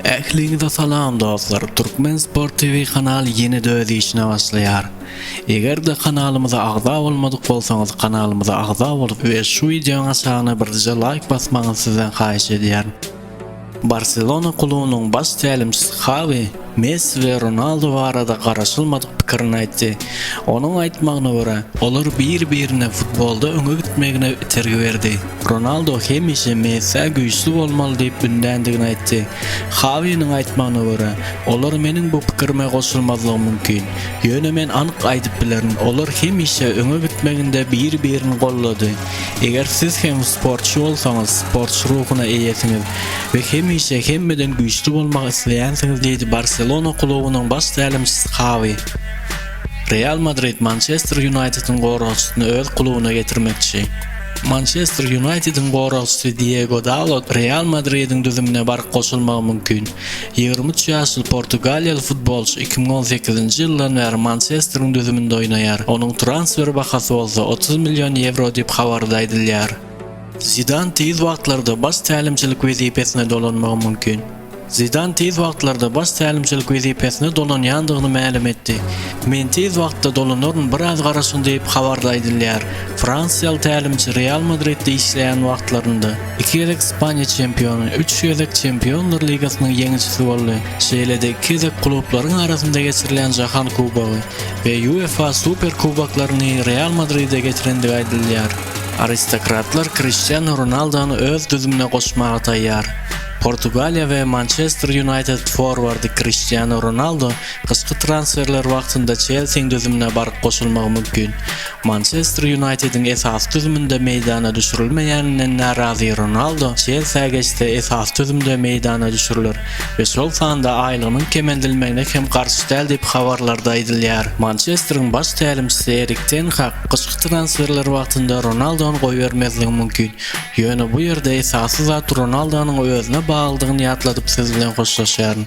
Ähliňize salam dostlar! Turkmen Sport TV kanaly ýene-de öz işine başlaýar. Eger-de kanalymyza agza bolmadyk bolsaňyz kanalymyza agza bolup we şu wideoň aşagyna birje laýk basmagyňyzy sizden haýyş edýärin. Barselona klubunyň baş tälimçisi Hawi Messi we Ronaldo barada garaşylmadyk pikirini aýtdy. Onuň aýtmagyna görä, olar bir-birine futbolda öňe gitmegine itergi berdi. Ronaldo hemişe Messä güýçli bolmaly diýip ündändigini aýtdy. Hawiniň aýtmagyna görä, olar meniň bu pikirime goşulmazlygy mümkin. Ýöne men anyk aýdyp bilerin, olar hemişe öňe gitmeginde bir-birini goldady. Eger siz hem sportçy bolsaňyz, sportçy ruhuna eýesiňiz we hemişe hemmeden güýçli bolmak isleýänsiňiz diýdi Barselona klubunyň baş tälimçisi Hawi. Real Madrid Mançester Ýunaýtediň goragçysyny öz klubuna getirmekçi. Mançester Ýunaýtediň goragçysy Diego Dalot Real Madridiň düzümine baryp goşulmagy mümkin. Ýigrimi üç ýaşly portugaliýaly futbolçy iki müň on sekizinji ýyldan bäri Mançesteriň düzüminde oýnaýar, onuň transfer bahasy bolsa otuz million ýewro diýip habarda aýdylýar. Zidan tiz wagtlarda baş tälimçilik wezipesine dolanmagy mümkin. Zidan tiz wagtlarda baş tälimçilik wezipesine dolanýandygyny mälim etdi. Men tiz wagtda dolanaryn, biraz garaşyň diýip, habarda aýdylýar. Fransiýaly tälimçi Real Madridde işleýän wagtlarynda iki gezek Ispaniýa çempiony, üç gezek Çempionlar ligasynyň ýeňijisi boldy, şeýle-de iki gezek klublaryň arasynda geçirilýän Jahan kubogy we UEFA Super kuboklaryny Real Madride getirendigi aýdylýar. Aristokratlar Kriştianu Ronaldony öz düzümine goşmaga taýýar. Portugaliýa we Mançester Ýunaýted forwardy Kriştianu Ronaldu gyşky transferler wagtynda Çelsiň düzümine baryp goşulmagy mümkin. Mançester Ýunaýtediň esasy düzüminde meýdana düşürilmeýäninden närazy Ronaldu Çelsiä geçse esasy düzümde meýdana düşüriler we şol sanda aýlygynyň kemeldilmegine hem garşy däl diýip habarlarda aýdylýar. Mançesteriň baş tälimçisi Erik ten Hag gyşky transferler wagtynda Ronaldony goýbermezligi mümkin. Ýöne bu ýerde esasy zat Ronaldonyň özüne baglydygyny ýatladyp siz bilen hoşlaşýaryn.